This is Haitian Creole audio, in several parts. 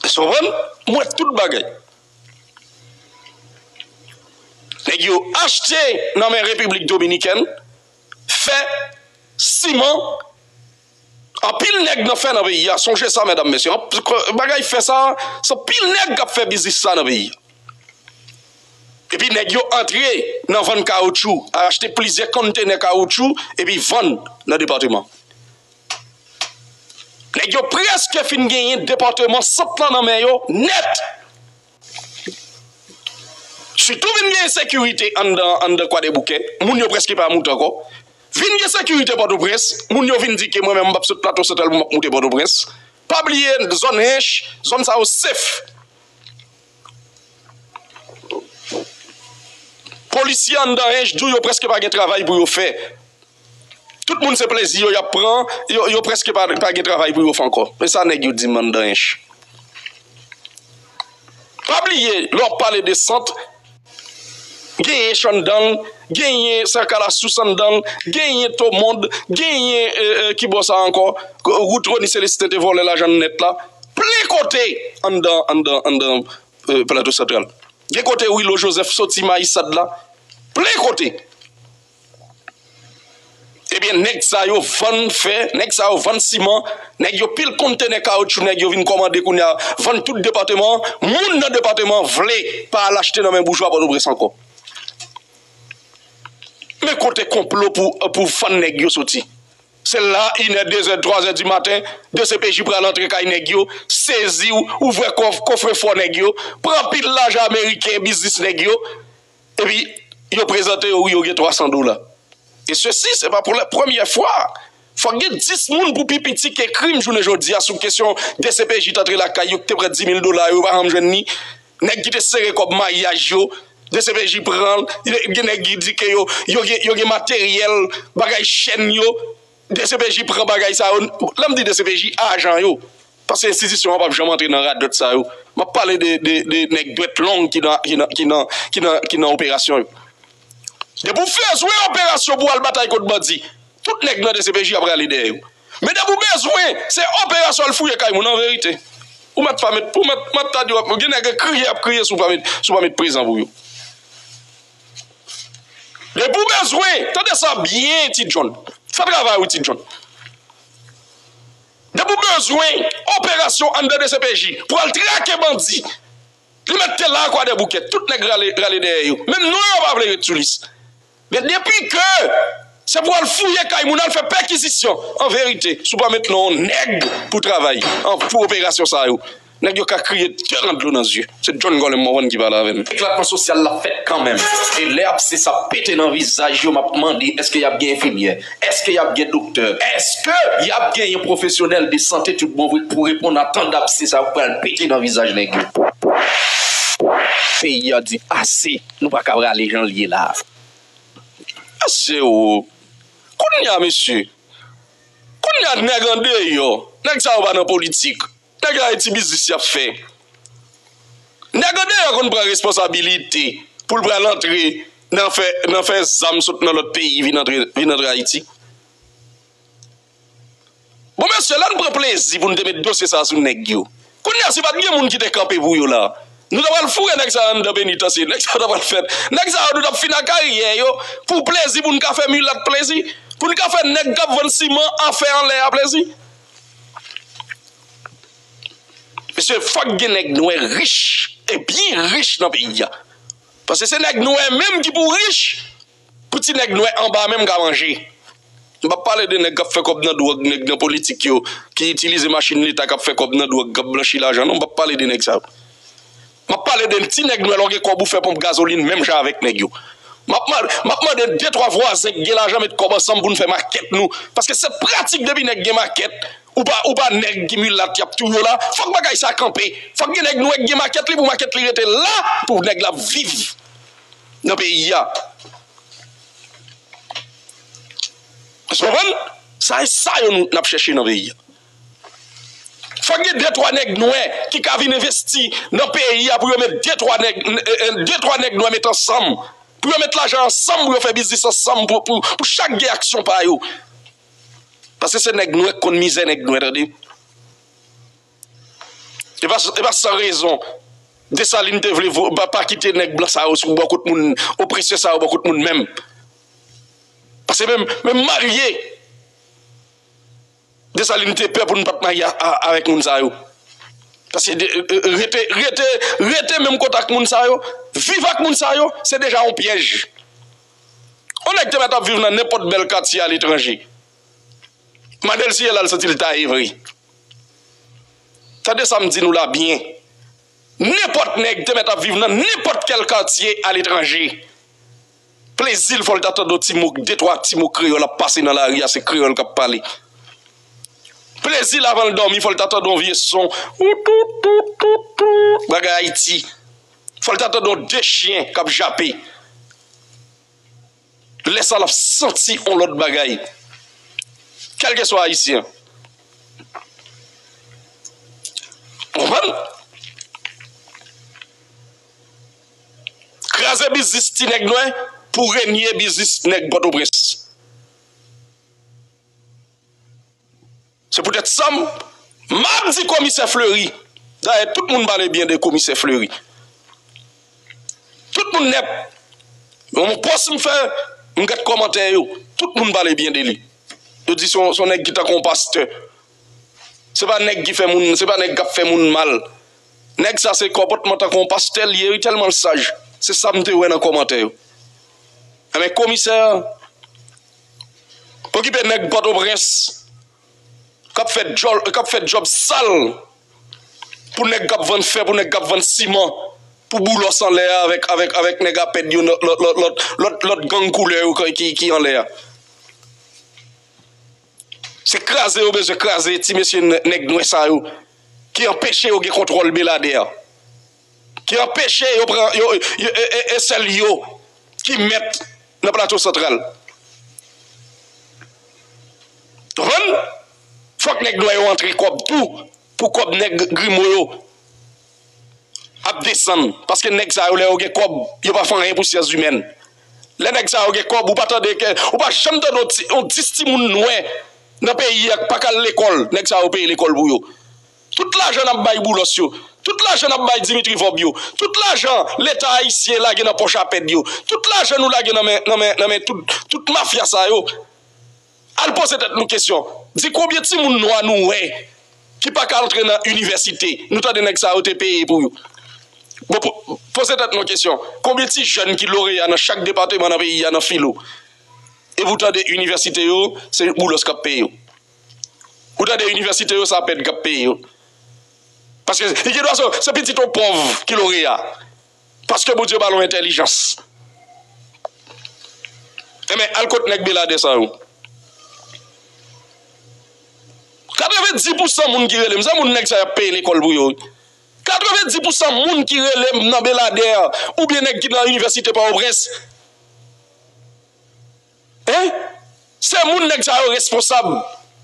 Èske w konprann? M wè tout bagay. Nèg yo achte nan men Repiblik Dominikèn, fè, siman, anpil nèg nan fè nan peyi a, sonje sa medam mesye, bagay fè sa a, se anpil nèg k ap fè biznis sa a nan peyi a. Epi nèg yo antre nan vann kawotchou, achte plizyè konntenè kawotchou epi vann nan depatman. Nèg yo prèske fin genyen depatman Sant lan nan men yo nèt. Sitou vin gen ensekirite anndan Kwadèboukè, moun yo prèske pa moute ankò. Vin gen sekirite Pòtoprens, moun yo vin di ke mwen menm m pap sot Plato Santral pou m ap moute Pòtoprens. Pa bliye zòn Hinche, zòn sa yo sef. Polisye anndan Hinche di w yo prèske pa gen travay pou yo fè. Tout moun se plezi yo yap pran, yo preske pa gen travay pou yo fè ankò. Men sa nèg yo di m anndan ench. Pa bliye lè wap pale de sant, gen ench anndan, genyen sèkalasous anndan, genyen tomond, genyen ki bò sa ankò, wout Rony Celestin te vòlè lajan nèt la, plen kote anndan Plato Santral. Gen kote Wilho Joseph soti Mayisad la, plen kote. Ebyen nèg sa yo vann fè, nèg sa yo vann siman, nèg yo pil konntenè kawoutchou nèg yo vin kòmande kounye a vann tout depateman an, moun nan depateman an vle pa al achte nan men boujwa Pòtoprens ankò. Men kote konplo pou vann nèg yo soti. Se la inè, dezè, twazè di maten, dcpj pral antre kay nèg yo, sezi ou, ouvè kòf, kofrefò nèg yo, pran pil lajan ameriken, biznis nèg yo, Epi yo prezante yo wi yo gen 300 dola. E sesi se pa pou la premyè fwa. Fòk gen 10 moun pou pi piti ke krim jounen jodi a sou kesyon dcpj t antre lakay yo ki te pran 10 mil dola yo yo pa janm jwenn ni. Nèg ki te sere kòb maryaj yo dcpj pran l. Gen nèg ki di ke yo gen materyèl bagay chèn yo. Dcpj pran bagay sa yo, lèm di dcpj ajan yo, paske enstitisyon an pap janm antre nan radòt sa yo, map pale de nèg dwèt long ki nan operasyon yo. Depi w bezwen operasyon pou w al batay kont bandi, tout nèg nan dcpj ap rale dèyè yo. Men depi w bezwen se operasyon al fouye kay moun, anverite ou mèt pa mèt, map ta di w gen nèg kriye yap kriye si w pa met prezan pou yo. E pou bezwen, tande sa byen Ti John, fè travay ou Ti John. E pou bezwen, operasyon anndan dcpj pou al trake bandi. Li mèt te la kwadèboukè, tout nèg rale dèyè yo. Menm non yo pa vle ret sou lis. Men depi ke se pou al fouye kay moun, al fè pèkizisyon, anverite, si w pa mèt non nèg pou travay, pou operasyon sa yo. Nèg yo ka kriye devan dlo nan zye. Se John Gorlem Morvan ki pale avè m. Eklatman sosyal la fèt kanmenm. E lè apse sa pete nan vizaj yo m ap mande èske y ap gen enfimyè? Èske y ap gen doktè? Èske y ap genyen pwofesyonèl de sante tout bon vre pou reponn a tan dapse sa yo k pral pete nan vizaj nèg yo? Peyi a di ase! Nou pa ka rale jan l ye la a. Mesye o! Kounye a mesye! Kounye a nèg andeyò, nèg sa yo pa nan politik. Nèg la gen ti biznis li ap fè. Nèg andeyò konn pran responsabilite pou l pral antre nan fè nan fè zam sot nan lòt peyi vin antre vin antre Ayiti. Bon mesye lè n pran plezi pou n te met dosye sa a sou nèg yo, kounye a si pa t gen moun ki te kanpe pou yo la a, nou ta pral foure nèg sa yo anndan penitansye, nèg sa yo ta pral fè nèg sa yo nou t ap fin a karyè yo pou plezi pou n ka fè milat plezi, pou n ka fè nèg k ap vann siman a fè anlè a plezi. Mesye fòk gen nèg nwè rich e byen rich nan peyi a paske se nèg nwè menm ki pou rich pou ti nèg nwè anba menm ka manje m pap pale de nèg kap fè kòb nan dwòg nèg nan politik yo ki itilize machin leta kap fè kòb nan dwòg kap blanchi lajan non m pap pale de nèg sa yo. Map pale de ti nèg nwè lè w gen kòb ou fè ponp gazolin menm jan avèk nèg yo. Map mande de twa vwazen k gen lajan met kòb ansanm pou n fè makèt nou paske se pratik depi nèg gen makèt ou pa nèg ki milat yap touye w la fòk bagay sa kanpe fòk gen nèg nwè k gen makèt li pou makèt li rete la pou nèg la viv nan peyi a. Èske w konprann? Sa e sa yo nap chèche nan peyi a. Fòk gen de twa nèg nwè ki ka vin envesti nan peyi a pou yo met de twa nèg de twa nèg nwè met ansanm pou yo met lajan ansanm pou yo fè biznis ansanm pou chak gen aksyon pa yo paske se nèg nwè ki konn mizè nèg nwè tande e pa e pa san rezon Dessalines te vle pa kite nèg blan sa yo sou bò kot moun opresè sa yo bò kot moun menm paske menm menm marye Desalin te pè pou n pat marye avèk moun sa yo. Paske rete, rete, rete menm kote ak moun sa yo, viv ak moun sa yo, se deja yon pyèj. Yon nèg te mèt ap viv nan nenpòt bèl katye aletranje. Mande l si e la l santi l taye vre. Tande sa m di nou la byen. Nenpòt nèg te mèt ap viv nan nenpòt kèl katye aletranje. Plezil fòl ta tande yon ti mo de twa ti mo kreyòl ap pase nan lari a se kreyòl kap pale plezil avanl dòmi fòl ta tande yon vye son woutoutoutoutout bagay ayiti fòl ta tande yon de chyen kap jape lèsa lap santi yon lòt bagay kèlkeswa ayisyen ou konprann. Kraze biznis ti nèg nwè pou renye biznis nèg Pòtoprens. Se poutèt sam map di komisè Fleury, dayè tout moun pale byen de komisè Fleury. Tout moun nèt nan yon pòs m fè m gad kòmantè yo, tout moun pale byen de li. Yo di son nèg ki tankou yon pastè. Se pa nèg ki fè moun, se pa nèg kap fè moun mal. Nèg sa se kòpòtman tankou yon pastè li ye wi tèlman l saj. Se sa m te wè nan kòmantè yo. Enben komisè okipe nèg pòtoprens kap fè djòl, kap fè djòb sal pou nèg kap vann fè, pou nèg kap vann siman, pou boulos anlè a avèk, avèk, avèk nèg apèd yo lòt, lòt, lòt, lòt gang koulè yo ki anlè a. Se kraze yo bezwen kraze ti mesye nèg nwè sa yo ki anpeche yo gen kontwòl Beladè ki anpeche yo pran yo e sèl yo ki mèt nan plato santral konprann fòk nèg nwè yo antre kòb tou pou kòb nèg grimo yo. ap desann paske nèg sa yo lè yo gen kòb yo pa fè anyen pou syans imèn lè nèg sa yo gen kòb ou pa tande ke ou pa janm tande yon ti yon 10 timoun nwè nan peyi a ki pa ka al lekòl nèg sa yo peye lekòl pou yo tout lajan nap bay Boulos yo tout lajan nap bay Dimitri Vorb yo tout lajan leta ayisyen lage nan pòch apèd yo tout lajan nou lage nan men nan men nan men tout tout mafya sa yo. Al poze tèt nou kesyon, di konbyen timoun nwa nou wè ki pa ka antre nan inivèsite, nou tande nèg sa yo te peye pou yo. Bon, poze tèt nou kesyon, konbyen ti jèn ki loreya nan chak depateman nan peyi a nan filo, epi ou tande inivèsite yo se Boulos k ap peye yo. Ou tande inivèsite yo se APED k ap peye yo. Paske li gen dwa se pitit yon pòv ki loreya. paske Bondye ba nou entèlijans enben al kot nèg beladè sa yo 90 pousan moun ki relem se moun nèg sa yap peye lekòl pou yo wi 90 pousan moun ki relem nan beladè oubyen nèg ki nan inivèsite pòtoprens. Hein! Se moun nèg sa yo responsab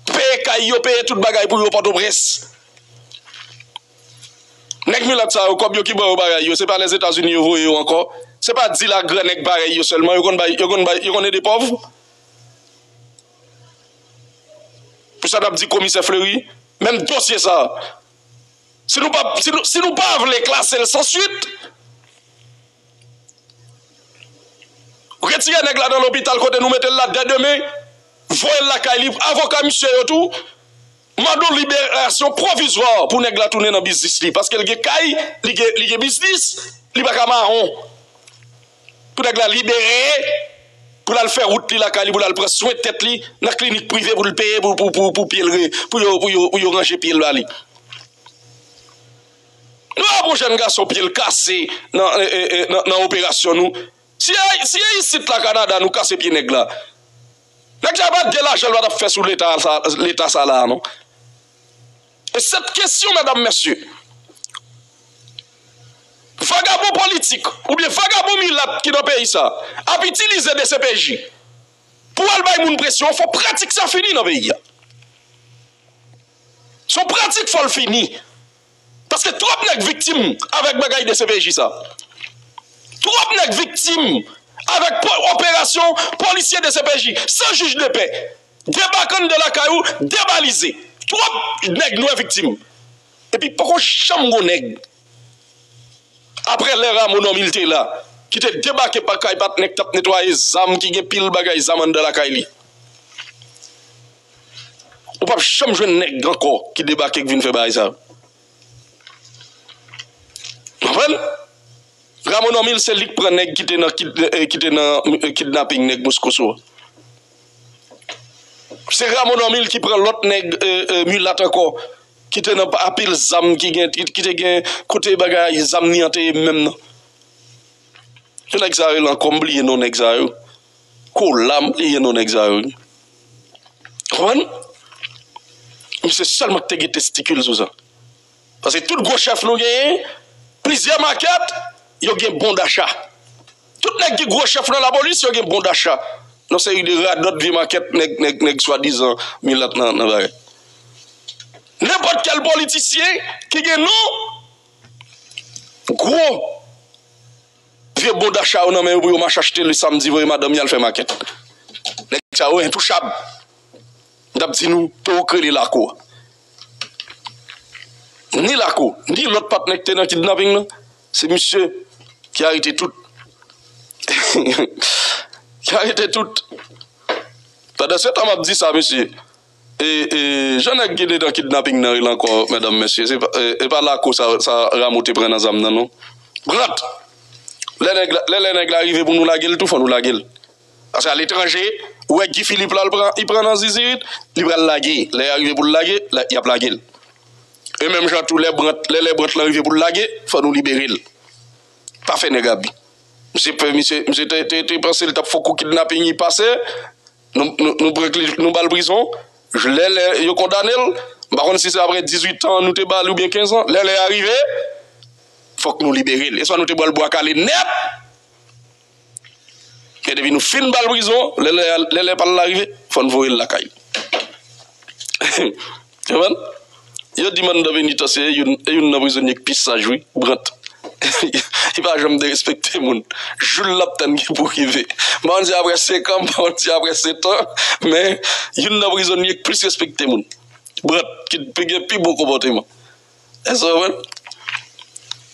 ki peye kay yo, peye tout bagay pou yo Pòtoprens. Nèg milat sa yo kòb yo ki ba yo bagay yo se pa Lèzetazini yo voye yo ankò? Se pa dil a gran nèg parèy yo sèlman yo konn bay, yo konn bay, yo konn ede pòv? Pou sa n'ap di komisè Fleury, menm dosye sa si nou pa, si nou pa vle klasel san swit, Retire nèg la nan lopital kote nou mete l la dè demen, voye l lakay li, avoka misye yo tou mande yon liberasyon pwovizwa pou nèg la tounen nan biznis li paske l gen kay, li gen biznis, li pa ka mawon pou nèg la libere pou l al fè wout li lakay li pou l al pran swen tèt li nan klinik prive pou l peye pou yo ranje pye l ba li. Nou wè pou jèn gason pye l kase nan operasyon nou si e isit la Canada nou kase pye nèg la nèg sa pat gen lajan l patap fè sou leta sa la non e sèt kesyon medam mesye vagabon politik oubyen vagabon milat ki nan peyi sa ap itilize dcpj pou al bay moun presyon fò pratik sa fini nan peyi a. Se yon pratik fòl fini. Paske twòp nèg viktim avèk bagay dcpj sa. Twòp nèg viktim avèk operasyon polisye dcpj san jij de pè. Debake anndan lakay ou debalize. Twòp nèg nwè viktim. Epi poko janm gon nèg aprè lè Ramo Normil te la ki te debake pa kay patnè k t ap netwaye zam ki gen pil bagay zam anndan lakay li. Ou pap janm jwenn nèg ankò ki debake ki vin fè bagay sa yo. Ou konprann? Ramo Normil se li ki pran nèg ki te nan ki te nan kidnaping nèg Moscosso a. Se Ramo Normil ki pran lòt nèg milat ankò ki te nan a pil zam ki gen ki te gen kote bagay zam li an te ye menm nan. Ki nèg sa rele ankò m bliye non nèg sa yo. Kola m bliye non nèg sa yo. Konprann? Misye sèlman ki te gen testikil sou sa. Paske tout gwo chèf nou genyen, plizyè makèt, yo gen bon dacha. Tout nèg ki gwo chèf nan lapolis, yo gen bon dacha. Yon seri de radòt vye makèt nèg swadizan milat nan bagay. Nenpòt kèl politisyen ki gen non gwo. Vye bon dacha yo nan men yo pou yo mache achte le samdi voye madanm yo al fè makèt. Nèg sa yo entouchab. M tap di nou to ou k rele Lakou a. Ni Lakou, ni lòt patnè ki te nan kidnaping nan, se misye ki arete tout. Ki arete tout. Pandan se tan map di sa mesye, Jan nèg ki dedan kidnaping nan rele ankò mèdanm mesye e pa lakou sa Ramo te pran nan zam nan non Grant lè lè nèg la rive pou nou lagel tou fò nou lagel paske a letranje ou wè Guy Philippe la li pran nan zizirit li pral lage lè ya rive poul lage yap lagel e menm jan tou lè Brant lè lè Brant la rive poul lage fò nou liberel pa fè nèg abi misye misye te te pansel tap fò kou kidnaping li pase. Nou pran kle nou bal prizon lè lè yo kondanel m pa konn si se aprè 18 tan nou te bali oubyen 15 ans lè lè a rive fòk nou liberel eswa nou te bal bwa kale nèt men depi nou fin bal prizon lè lè a lè lè pal la rive fòn voyel lakay li. Konprann? Yo di Manda Venita se youn e youn nan prizonye k pi saj wi Brant. Li pa janm derespekte moun. Jou l lap tann ki pou rive. M pa konn si aprè 5 an, m pa konn si aprè 7 an, men youn nan prizonye k plis respekte moun. Brant ki t gen pi bon konpòteman. Èske w konprann?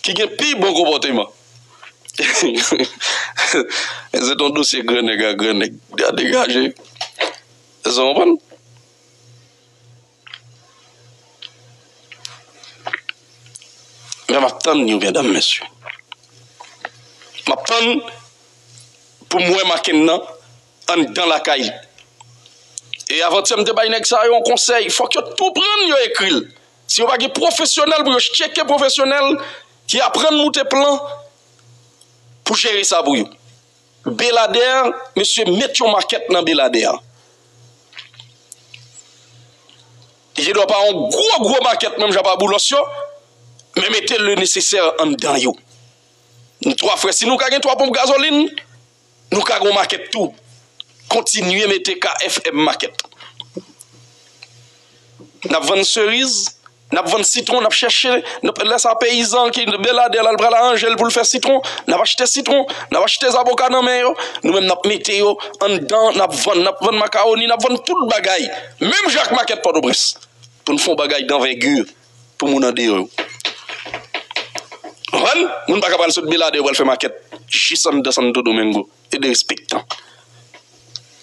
Ki gen pi bon konpòteman. Men se t on dosye gran nèg ak gran nèg. Degaje. Èske w konprann? Mwen ap tann yo gen dam mesye. Map tann pou mwen maken nan anndan lakay. E avantyè mte bay nèg sa yo yon konsèy fòk yo tou prann yo ekril. Si yo pa gen pwofesyonèl pou yo cheke pwofesyonèl ki aprann moute plan pou jere sa pou yo. Belader mesye met yon makèt nan belader li gen dwa pa yon gwo gwo makèt menm jan pa boulos yo men mete le nesesè anndan yo nou 3 frè si nou ka gen 3 ponp gazolin nou ka gon makèt tou kontinye mete kfm makèt. N ap vann seriz, n ap vann sitwon, n ap chèche, lè sa peyizan ki beladè la pral aranje l pou l fè sitwon, n ap achte sitwon, n ap achte zaboka nan men yo, nou menm n ap mete yo anndan, n ap vann, n ap vann makawoni, n ap vann tout bagay, menm jan ak makèt Pòtoprens, pou n fè yon bagay danvègi pou moun andeyò yo. Ou konprann? Moun pa ka pral sot Beladè pral fè makèt jis anndan Santo Domingo e derespektan.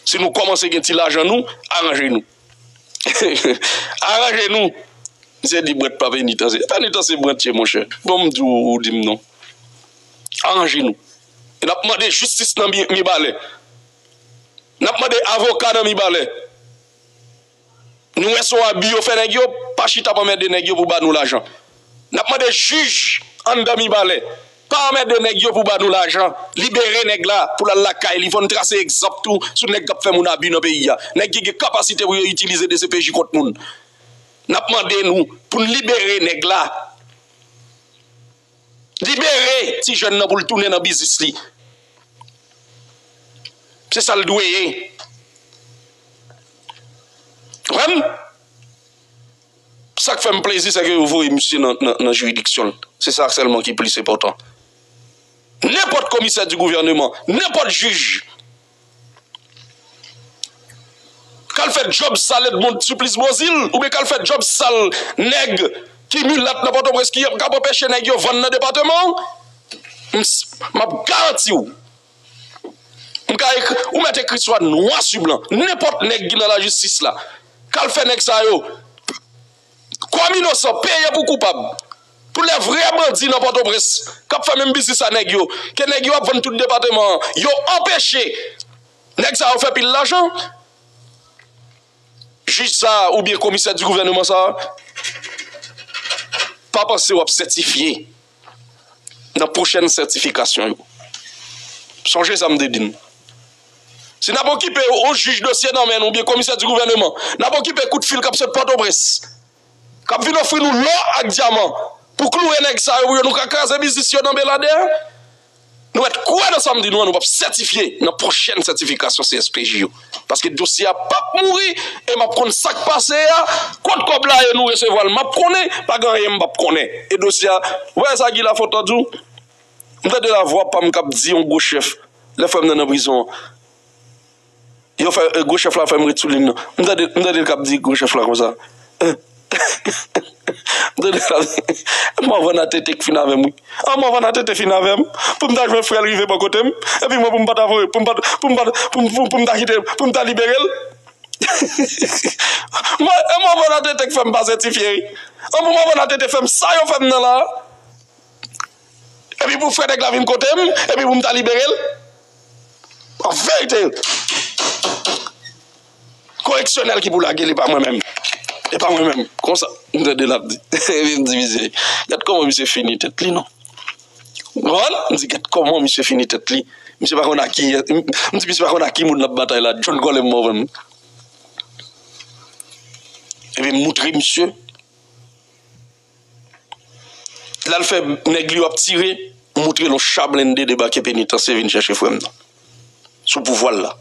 Si nou kòmanse gen ti lajan nou, aranje nou. Aranje nou! Misye di Brent pa penitanse. Penitanse Brent ye monchè. Bon m di w ou di m non. Aranje nou. E n ap mande jistis nan Mibalè. N ap mande avoka nan Mibalè. Nou wè sa w abi yo fè nèg yo. Pa chita pou anmède nèg yo pou ba nou lajan. Nap mande jij anndan mibalè pa anmède nèg yo pou ba nou lajan libere nèg la pou lal lakay li fòn trase egzanp tou sou nèg kap fè moun abi nan peyi a nèg ki gen kapasite pou yo itilize dcpj kont moun nap mande nou poun libere nèg la libere ti jèn nan poul tounen nan biznis li se sal dwe ye. Konprann? Sa k fè m plezi sèke yo voye misye nan jiridiksyon l. Se sa sèlman ki plis enpòtan. Nenpòt komisè di gouvèneman, nenpòt jij k al fè djòb sal Edmond Supplice Beauzile oubyen k al fè djòb sal nèg ki milat nan Pòtoprens ki ap anpeche nèg yo vann nan depateman w, m ap garanti w M ka ekri, ou mèt ekri swa nwa su blan, nenpòt nèg ki nan lajistis la, k al fè nèg sa yo, kòm inosan, peye pou koupab. Pou lè vrè bandi nan Pòtoprens, k ap fè menm biznis a nèg yo, ke nèg yo ap vann tout depateman an, yo anpeche nèg sa yo fè pil lajan. Jij sa a oubyen komisè di gouvèneman sa a, pa panse w ap sètifye. nan pwochèn sètifikasyon yo. Sonje sa m te di n. Si n ap okipe yon jij dosye nan men n oubyen komisè di gouvèneman, n ap okipe kout fil k ap sot Pòtoprens, k ap vin ofri nou lò ak dyaman pou kloure nèg sa yo pou yo nou ka kraze biznis yo nan Beladè. Nou mèt kwè nan sa m di nou an nou pap sètifye nan pwochèn sètifikasyon CSPJ yo paske dosye a pap mouri e map konn sak pase a kot kòb la ye nou resevwa l map konnen pa gen anyen m pap konnen e dosye a ou pa wè sa Guy Lafontant ap di m tande lavwa pa m kap di yon gwo chèf lè frè m nan nan prizon an. Yo fè gwo chèf la fèm ret sou lin nan m tande m tande l kap di gwo chèf la konsa m tande l kap di morvan a tete k fin avèm wi an morvan a tete fin avèm pou m ta jwenn frè l rive bò kote m epi mwen pou m pa ta voye pou m pa ta pou m pa ta pou m ta kite l pou m ta libere l mwen e morvan a tete k fèm pase ti fye wi an pou morvan a tete fèm sa yo fèm nan la. Epi pou fè nèg la vin kote m epi pou m ta libere l? An verite, koreksyonèl ki pou lage l e pa mwen menm. E pa mwen menm. Konsa, m tande l ap di. Epi m di misye, gad kòman misye fini tèt li non. Ou konprann? M di gad kòman misye fini tèt li. Misye pa konn ak ki, m di misye pa konn ak ki moun l ap batay la. Djòl kòlè m mò menm. Epi m moutre misye. Lal fè nèg li yo ap tire moutre l on cha blende debake penitansye vin chèche frè m nan sou pouvwa l la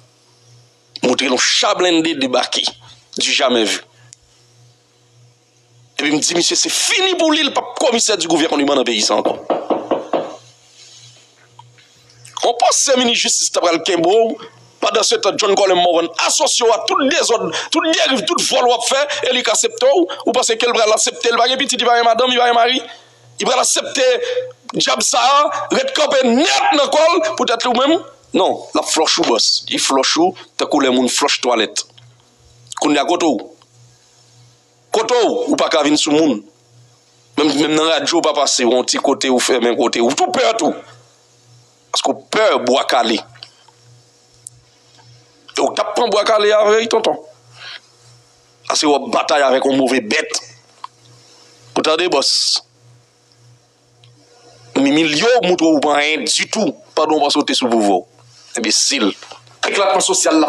moutre l on cha blende debake du jamais vu epi m di misye se fini pou li l pap komisè du gouvernement nan peyi sa ankò. Ou panse minis jistis ta pral kenbe w pandan se tan John Colem Morvan asosye w a tout dezòd, tout deriv, tout vòl wap fè e li k asepte w? Ou panse ke l pral asepte? Li pa gen pitit, li pa gen madanm, li pa gen mari? Li pral asepte djab sa a ret kanpe nèt nan kò l poutèt ou menm? Non, l ap flòch ou bòs, li flòch ou tankou lè moun flòch twalèt. Kounye a kote w? Kote w ou paka vin sou moun. Menm nan radyo w pa pase yon ti kote ou fèmen kote ou tou pè tou. Paske w pè bwa kale. E w tap pran bwa kale a vre wi tonton. Ase w ap batay avèk yon move bèt. Ou tande bòs. M imilye w, m moutre w ou pa anyen ditou pandan w panse w te sou pouvwa w. Enbesil. Eklateman sosyal la.